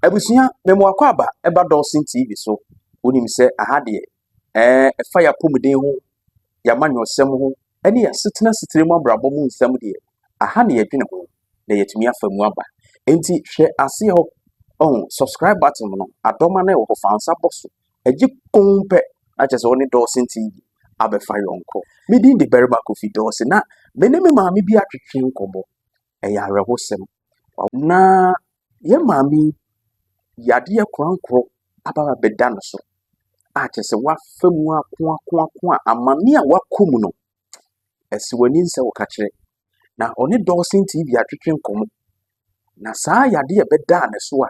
Abusua memu akwaaba ɛba Dawson TV so. Wonim sɛ aha deɛ ɛɛ ɛfa yɛn apɔmuden ho, yɛn amanyɔsɛm ho ɛne yɛn asetena setire mu abrabɔ mu nsɛm deɛ aha na yɛdwene ho na yɛatumi afa mu aba. Enti hwɛ aseɛ hɔ ɔho subscribe button no adɔma no ɛwɔ hɔ fa nsa bɔ so ɛgye kɔn pɛ na kyerɛ sɛ wɔne Dawson TV abɛfa yɔnko. Me din de Barima Kofi Dawson na me ne me maame bi atwetwe nkɔmmɔ. Ɛyɛ awerɛhosɛm. Na Yɛn maame yi, yadeɛ korankoro aba abɛda ne so a kyerɛ sɛ wafa mu akoakoako a amane a wakɔ mu no, ɛsɛ w'ani nsɛ wo ka kyerɛ. Na ɔne Dawson TV atwetwe nkɔmmɔ. Na saa yadeɛ a ɛbɛdaa ne so a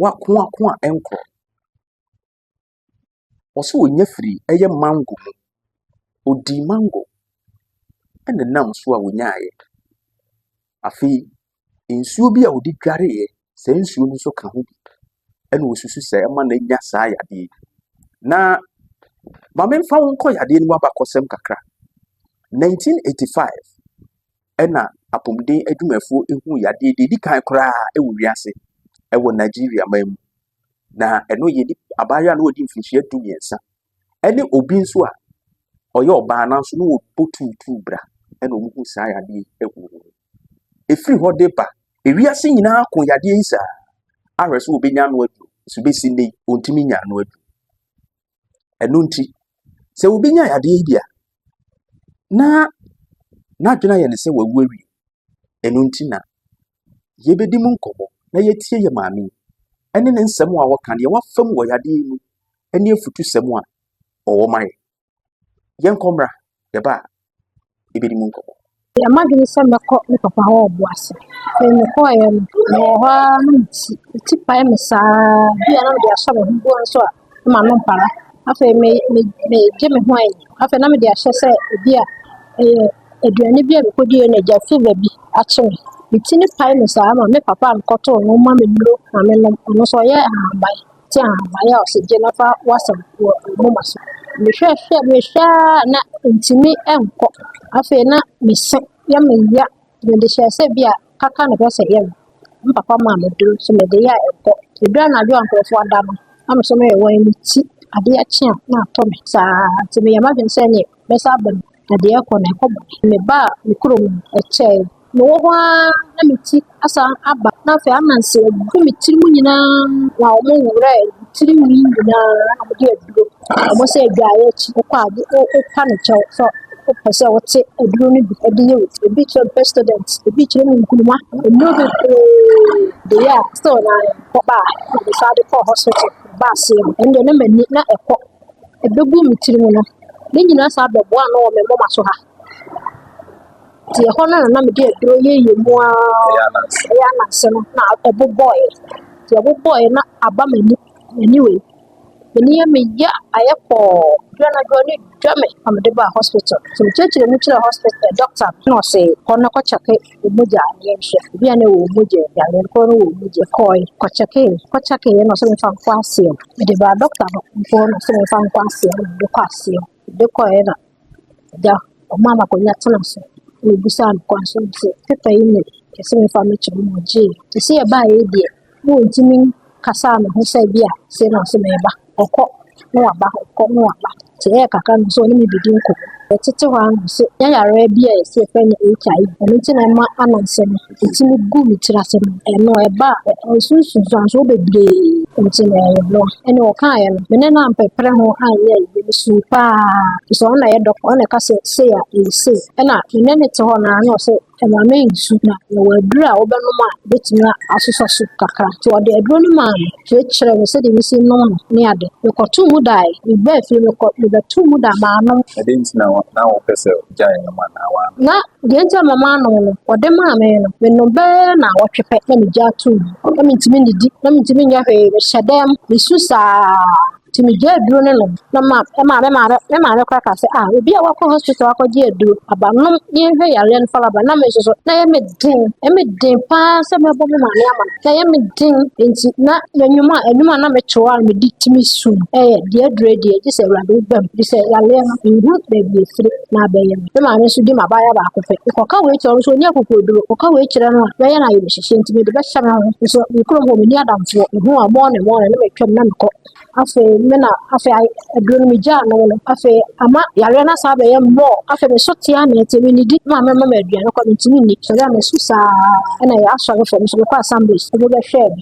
wakoako a ɛnkorɔ. Ɔse ɔnya firi ɛyɛ mango mu. Ɔdii mango ɛna nam so a ɔnyaaeɛ. Afei nsuo bi a ɔde dwareeɛ, saa nsuo no nso ka ho bi. Ɛna ɔsusu sɛ ɛma no anya saa yadeɛ yi. Na ma memfa wo nkɔ yadeɛ no mu abakɔsɛm kakra. 1985 ɛna apɔmuden adwumafoɔ ɛhuu yadeɛ deɛ ɛdi kan koraa ɛwɔ wiase ɛwɔ Nigeria man mu. na ɛno yɛ nip abaayewa a na wadi mfinhyia du mmiɛnsa ɛne obi nso a ɔyɛ ɔbaa nanso na wɔbɔ tuutuu bra ɛna wɔn ho saa yadeɛ yi ɛwɔ wɔn mu. Ɛfiri hɔ de ba ewiase nyinaa ko yadeɛ yi saa ahwɛ sɛ wɔbɛnya ano aduro nso bɛsi nnɛ yi wɔntumi nya ano aduro. Ɛno nti sɛ wɔbɛnya yadeɛ yi bi a na n'adwene ayɛ ne sɛ wawu awie Ɛno nti na yɛbɛdi mu nkɔmmɔ na yɛatie yɛ maame yi ɛne ne nsɛm a wɔka deɛ wafa mu wɔ yadeɛ yi mu ɛne afutusɛm a ɔwɔ ma yɛ. Yɛnkɔ mmra, yɛba a yɛbɛdi mu nkɔmmɔ. Yɛ m'adwene sɛ mɛkɔ me papa hɔ ɔbo ase. Afei mekɔeɛ no, mewɔ hɔ ara na me ti, me ti pae me saa. Bi a na mede asɔ me ho boɔ nso a, na m'ano mpara. Afei me me megye me ho ayɛ. Afei na mede ahyɛ sɛ ebi a ɛyɛ aduane bi a mekodie na agya fever bi akye me. Me ti no pae me saa ma me papa a mekɔtoo no ma me nnuro ma menom. Ɔno nso ɔyɛ ahaban te ahaban a ɔsɛ gye na fa wasam wɔ moma so. Mehwɛ hwɛ mehwɛ a na ntumi nkɔ. Afei na mese yɛ meya Mede hyɛɛ sɛ bi a kaka na ɛsɛ sɛ yɛ no, me papa maa me duro nso mede yɛ a ɛkɔ. Ɛduru anadwo a nkurɔfoɔ ada no, na me nso meyɛ wɔn ti, adeɛ kye a na atɔ me saa ara nti meyɛ m'adwene sɛ ɛnneɛ mɛsan aba mu na deɛ ɛrekɔ no ɛkɔ bɔne. Mebaa me kurom no, ɛkyɛe. Mewɔ hɔ ara na me ti asan aba na afei ananse agu me tiri mu nyinaa na wɔwowrɛɛ me tirinwi nyinaa na wɔde aduro Ɔmo sɛ adwareɛ akyi wokɔ a wo- wo- wotwa ne kyɛw sɛ wopɛ sɛ wote aduro no bi de yɛ wo ti. Ebi kyerɛ Pepsodent, ebi kyerɛ mu nkruma, nnuro bebree de yɛ a still no ara mekɔba a na mesan de kɔ hospital. Meba aseɛ no ɛno deɛ na m'ani na ɛkɔ. Ɛbɛgu me tiri mu no, ne nyinaa san bɛboa ano wɔ me moma so ha. Nti ɛhɔ no na na mede aduro yɛ yɛ mu ara. Ɛyɛ ananse. Ɛyɛ ananse no na ɛbobɔeɛ. Nti ɛbobɔeɛ na aba m'ani, m'ani wei. M'ani yɛ me ya, ayɛ kɔɔ. Duro na duro ne dwa me na mede baa hospital. Nti mekyerɛkyerɛ mu kyerɛɛ hospital eh, doctor no ɔse kɔ na kɔkyɛke wo mogya ne yɛnhwɛ. Ebi a na ɛwɔ wo mogya mu, yareɛ no koraa na ɛwɔ wo mogya mu. Mekɔɔe, kɔkyɛkee, kɔkyɛkeeɛ na ɔse memfa nkɔ Aseɛm. Mede baa doctor no hɔ no ɔse memfa nkɔ Aseɛm na mede kɔ Aseɛm. Ɔde kɔeɛ na agya ɔmaa no akonnwa tenaa so na ɔbisaa no kwan so sɛ, paper yi na ɛsɛ sɛ mefa mekyɛ wo na ɔgyeeɛ. Te sɛ yɛbaeɛ deɛ, na ɔntumi nkasaa ne ho sɛ bi a sei na ɔsɛ mɛba. Ɔkɔ na waba, ɔkɔ na waba. Nti ɛyɛ kakra no sɛ ɔne me bɛdi nkɔmmɔ. Yɛtete hɔ ara na ɔse, yɛayareɛ bi a yɛse yɛfrɛ no HIV, ɛno nti na ɛma ano nsɛ me. Nti megu me tiri ase no, ɛno ɛba a, ɛnsunsu nsuansoɔ bebree. Nti meyɛɛ no. Ɛnna ɔkaeɛ no, me ne no ampɛprɛ ho anyɛ yie. Mesuu pa ara, ɛfiri sɛ ɔno na ɛyɛ dɔkota, ɔno na ɛka sɛ sei a, ɛyɛ sei. Ɛnna me ne no te hɔ no ara na ɔse, ma me nsu, na yɛwɔ aduro a wobɛnom a ɛbɛtumi asosɔ so kakra. Nti ɔde aduro no maa me. kyerɛɛ me sɛdeɛ mesi nom no ne ade. Mekɔtoo mu dae, mebaa fie no mekɔ mebɛtoo mu da maanom. Ɛdeɛ nti na na wopɛ sɛ wogyae nom anaa woanom? Na deɛ nti a mama anom no, wɔde maa me no, menom bɛyɛ naawɔtwe pɛ na megyaa too mu. Na mentumi nnidi, na mentumi nyɛ hwee, mehyɛ dɛm, mesu saa. Nti megyaa aduro no nom na ma ɛma me maame me maame koraa kaa sɛ ah obi a wakɔ hospital akɔgye aduro aba nom yɛnhwɛ yareɛ no fala ba na me nso so na ɛyɛ me den ɛyɛ me den paa sɛ mɛbɔ me maame ama no na ɛyɛ me den nti na m'anwum a anwum a na meto a medi tumi sum ɛyɛ deɛ aduro deɛ gye sɛ awurade wobam gye sɛ yareɛ no nhu baabi ɛfiri na abɛyɛ me maame nso di m'abaayewa baako pɛ. Mekɔka wei kyerɛ no nso ɔnyɛ akokoɔduro. Mekɔka wei kyerɛ no a, ɔbɛyɛ no ayamhyehyeɛ nti mede bɛhyɛ me ho. Nso me kurom hɔ menni adamfoɔ. Mehu a mɔɔne mɔɔne na matwam na mekɔ. Afei me na afei aduro no megyaa nom no. Afei ama yareɛ no asan abɛyɛ mmɔɔ. Afei meso te ara na ɛte mennidi. Me maame mma me aduane kɔ a mentumi nni. Sɔre a masu saa na asɔre fam nso mekɔ assemblies ɛde bɛhwɛɛ me.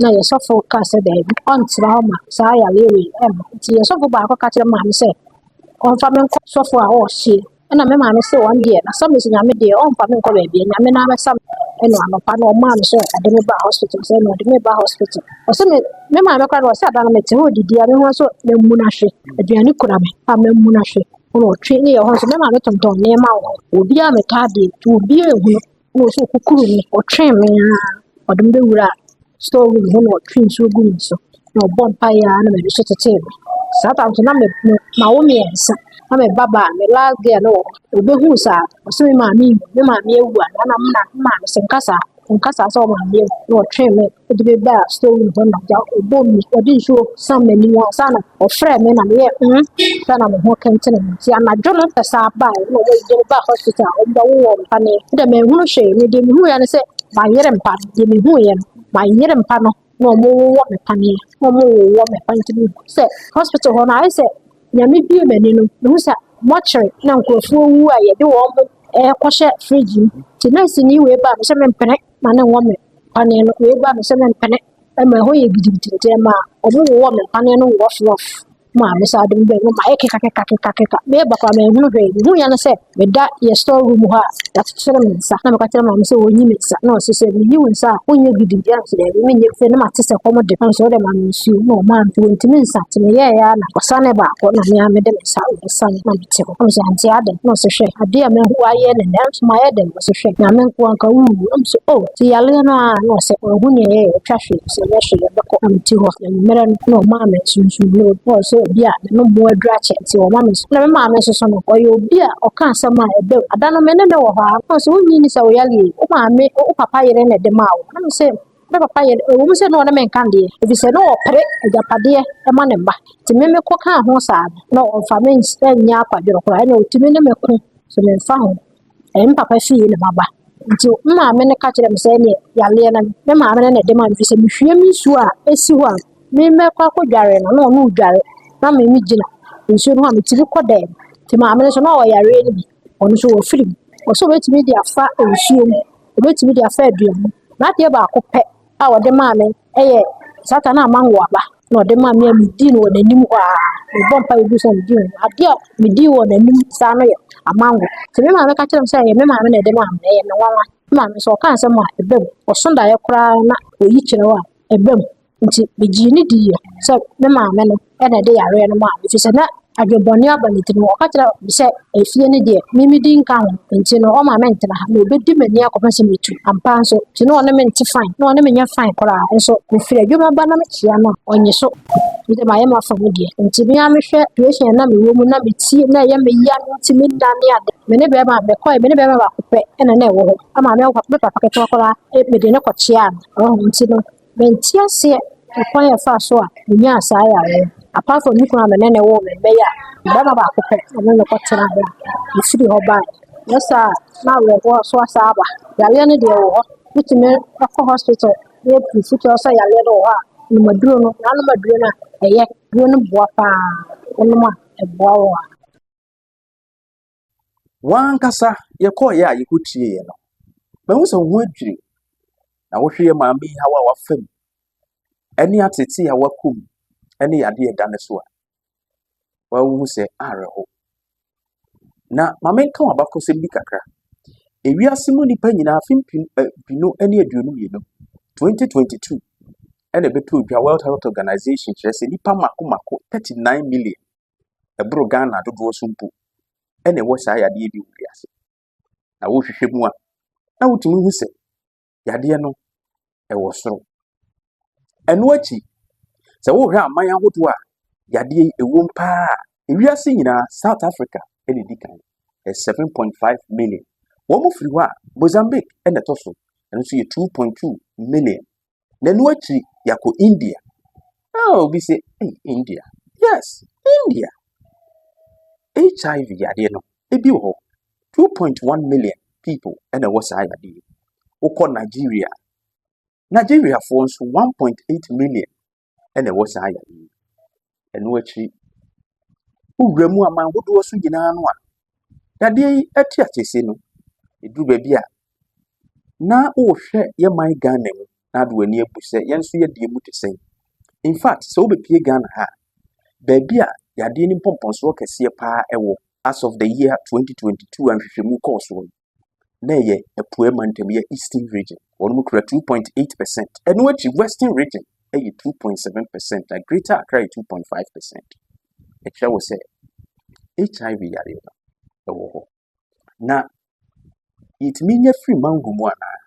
na yɛ sɔfo kaa sɛ daabi, ɔntena hɔ ma saa yareɛ wei ɛmma. Nti yɛ sɔfo baako ka kyerɛ maame sɛ ɔmfa me nkɔ sɔfo a ɔɔhye. Ɛna me maame se wɔn deɛ na same se nyame deɛ ɔmfa me nkɔ baabi nyame na abɛsa me. Ɛna anɔpa no ɔmaa me sɛ ɔde me ba hospital sɛ ɛna ɔde me ba hospital. Ɔse me me maame kora no ɔse ada no mete hɔ didi a me ho nso mamu no ahwe. Aduane kura me a mamu no ahwe. Ɛna ɔtwe ne yɛ hɔ nso me maame tontɔn nneɛma wɔ hɔ. Obiara metaa deɛ nti obiara ehunu. Ɛna ɔsɛ ɔkukuru me, ɔtwɛn me ara, ɔde me bɛwura store room hɔ na ɔtwe nsuo gu me so na ɔbɔ mpaeɛ ara na m'ani so tetee me. Saa tam so na me me mawo mmiɛnsa na me ba baa me last girl no wɔ hɔ. Ɔbɛhuu saa ɔsɛ me maame nwu, me maame awu anaa na me na me maame sɛ nka saa, nka saa sɛ wo maame awu na ɔtwɛn me Ɔde me baa store room hɔ na da ɔbɔ mu ɔde nsuo san m'anim hɔ ansa na ɔfrɛɛ me na meyɛ mm ansa na me ho kentene me nti anadwo no pɛ saa baa na ɔmo de me baa hospital a ɔmo bɛwo wɔ mpa ne de manhunu hwee me deɛ mehuiɛ ne sɛ mayere mpa deɛ mehuiɛ no mayere mpa no na ɔmo wowɔ me paneɛ na ɔmo wowɔ me pa nti mehu sɛ hospital hɔ no ayɛ sɛ nyame bie m'ani no mehu sɛ mɔkyere na nkurɔfoɔ wu a yɛde wɔn mo ɛɛkɔhyɛ fridge mu nti nɛɛsini wei baa me sɛ mempene ma no wɔ me paneɛ no wei ba no sɛ mempene ma ɛhɔ yɛ gidigidi nti ɛma ɔmo wowɔ me paneɛ no rough rough ma me saa de mbɛ mu ma ayɛ keka keka keka keka meba koraa manhunu hwee mehu yɛ no sɛ meda yɛ store room hɔ a yɛakyekyere me nsa na meka kyerɛ maame sɛ wɔnyi me nsa na ɔse sɛ meyi wo nsa a wonyɛ gidigidi a nso daabi menyɛ sɛ ne mate sɛ kɔm de nso wode ma me nsuo na ɔma nti wɔntumi nsa nti meyɛɛyɛ a na ɔsane baako na mea mede me nsa ɔsane na mete hɔ na mesɛ ante adɛn na ɔse hwɛ adeɛ a mahu ayɛ ne nɛ nso mayɛ dɛn ɔse hwɛ nyame nko anka wuwu ɛm so o ti yaleɛ no a na ɔsɛ ɔhu ne ɛyɛ ɛtwa hwe sɛ yɛ hwe yɛ bɛkɔ ɛm ti hɔ na mmerɛ no na ɔmaa me sunsun na ɔbɔ sɛ obi a ne no mu adura kyɛ nti ɔma me na me maame nso so no ɔyɛ obi a ɔka asɛm a ɛbɛ ada no me ne ne wɔ hɔ a na ɔsɛ wonyi ni sɛ wo yaleɛ wo maame wo papa yere na ɛde maa wo na me sɛ ne papa yɛ ɛwɔ mu sɛ ne ɔne me nka deɛ ebi sɛ ne ɔpere agyapadeɛ ɛma ne mma nti me me kɔ kaa ho saa no na ɔmfa me nsɛ nyɛ akwadworɔ koraa ɛna ɔtumi ne me ko so memfa ho Ɛɛ me papa fie na maba. Nti me maame no ka kyerɛɛ me sɛ ɛneɛ yareɛ no me maame no na ɛde maa me firi sɛ mehwie me nsuo a ɛsi hɔ a me mɛkɔ akɔ dware no na ɔno redware na me megyina nsuo no ho a metumi kɔ dɛm. Nti maame no nso na ɔwɔ yareɛ no bi ɔno nso wɔ firi mu ɔwɔ sɛ ɔbɛtumi de afa nsuo mu ɔbɛtumi de afa aduane mu. N'adeɛ baako pɛ a ɔde maa me Ɛyɛ Satan a mango aba na ɔde maa me a medii no wɔ n'anim hɔ a mebɔ mpa ebi sɛ medii no. Adeɛ a medii wɔ n'anim saa no yɛ amango. Sɛ me maame ka kyerɛ me sɛ ɛyɛ me maame na ɛde maa me na ɛyɛ me nwanwa. Me maame sɛ ɔka nsɛm a ɛba mu. Ɔso daeɛ koraa na ɔyi kyerɛw a ɛba mu. Nti megyee no diiɛ sɛ me maame no na ɛde yareɛ no maa me ɛfiri sɛ na adwene bɔne aba ne tirim ɔka kyerɛ me sɛ efie no deɛ me medi nka ho nti no ɔma me ntena ha na obɛdi m'ani akɔpɛ sɛ metu ampa nso nti na ɔne me nte fine na ɔne me nyɛ fine koraa nso mefiri adwuma ba na mekyia no a ɔnye so nti mayɛ mafa mu deɛ nti me a mehwɛ situation na mewɔ mu na metie na ɛyɛ me ya no nti meda ne ade me ne bɛrima mekɔe me ne bɛrima baako pɛ ɛna na ɛwɔ hɔ ama me papa ketewa koraa mede ne kɔkyia no nti no Mente aseɛ ɛkwan a ɛfaa so a menyaa saa yareɛ no apart from me kunu a me ne no woo me mma yi a barima baako pɛ na me ne no kɔ tenaa hɔ a mefiri hɔ baeɛ nyɛ saa a na awerɛhoɔ nso asan aba yareɛ no deɛ ɛwɔ hɔ metumi kɔ hospital na yɛ proof kyerɛ sɛ yareɛ no wɔ hɔ a menom aduro no na anom aduro no a ɛyɛ aduro no boa paa wonom a ɛboa wo a. Wɔn ankasa yɛkɔeɛ a yɛkɔ tieeɛ no, mahu sɛ wo ho adwiri. Na wohwɛ yɛ maame yi haw a wafa mu, ɛne atete a wakɔ mu, ɛne yadeɛ ɛda ne so a, wahu sɛ awerɛho. Na maame nka wɔn abakɔsɛm bi kakra. Ewiase mu nnipa nyinaa afe mpem mpino ne aduonu mmienu, 2022, ɛna ɛbɛtɔ dwa World Health Organization kyerɛ sɛ nnipa mako mako 39 million ɛboro Ghana dodoɔ so mpo na ɛwɔ saa yadeɛ bi wɔ wiase. Na wohwehwɛ mu a, na wotumi hu sɛ yadeɛ no ɛwɔ soro. Ɛno akyi, sɛ wohwɛ aman ahodoɔ a yadeɛ yi ɛwom paa a, ewiase nyinaa South Africa na ɛdi kan, ɛyɛ 7.5 million. Wɔn firi hɔ a, Mozambique na ɛtɔ so, ɛno nso yɛ 2.2 million. Na ɛno akyiri yɛakɔ India. Ah, obi sɛ, hey, India. Yes, India. HIV yadeɛ no, ebi wɔ hɔ. 2.1 million people ɛna ɛwɔ saa yadeɛ yi. Wokɔ Nigeria. Nigeriafoɔ nso 1.8 million ɛna ɛwɔ saa yadeɛ yi. Ɛno akyiri, wowura mu aman hodoɔ so nyinaa no a, dadeɛ yi te aseɛsie no, ɛduru baabi a, na wohwɛ yɛ man Ghana mu na ade w'ani abu sɛ yɛn nso yɛdeɛ mu te sɛn. In fact, sɛ wobɛpie Ghana ha a, baabi a yadeɛ no mpɔmpɔnsoɔ kɛseɛ paa ɛwɔ as of the year 2022 a nhwehwɛmu kɔɔ soɔ no, na ɛyɛ apueɛ mantam yɛ eastern region wɔn mu kura two point eight percent ɛno akyi western region ɛyɛ two point seven percent na greater accra yɛ two point five percent ɛkyerɛ wɔ sɛ hiv yareɛ no ɛwɔ hɔ na yɛtumi nya firi mango mu anaa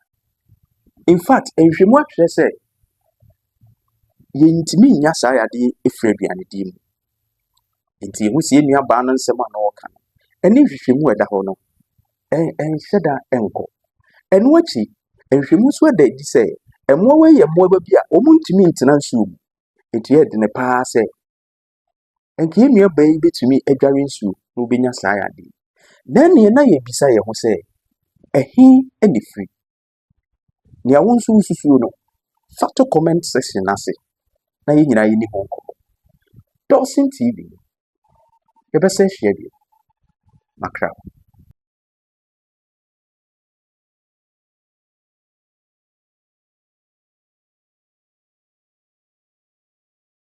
in fact nhwɛmu akyerɛ sɛ yɛntumi nya saa yadeɛ ɛfiri aduane di mu Nti yɛhu sɛ yɛn nuabaa no nsɛm a na ɔreka no, ɛne nhwehwɛmu a ɛda hɔ no, ɛnhyɛ da nkɔ. Ɛno akyi, nhwehwɛmu nso da adi sɛ mmoawa yi yɛ mmoawa bi a wɔntumi ntena nsuo mu. Nti ɛyɛ dene paa sɛ nka yɛn nuabaa yi bɛtumi adware nsuo na ɔbɛnya saa yadeɛ. Na ɛneɛ na yɛbisa yɛn ho sɛ, ɛhe ne firi? Nea wo nso wosusuo no, fa to comment section no ase na yɛn nyinaa yɛni ho nkɔmmɔ. Dawson TV, yɛbɛsɛ ahyia bio. Makra.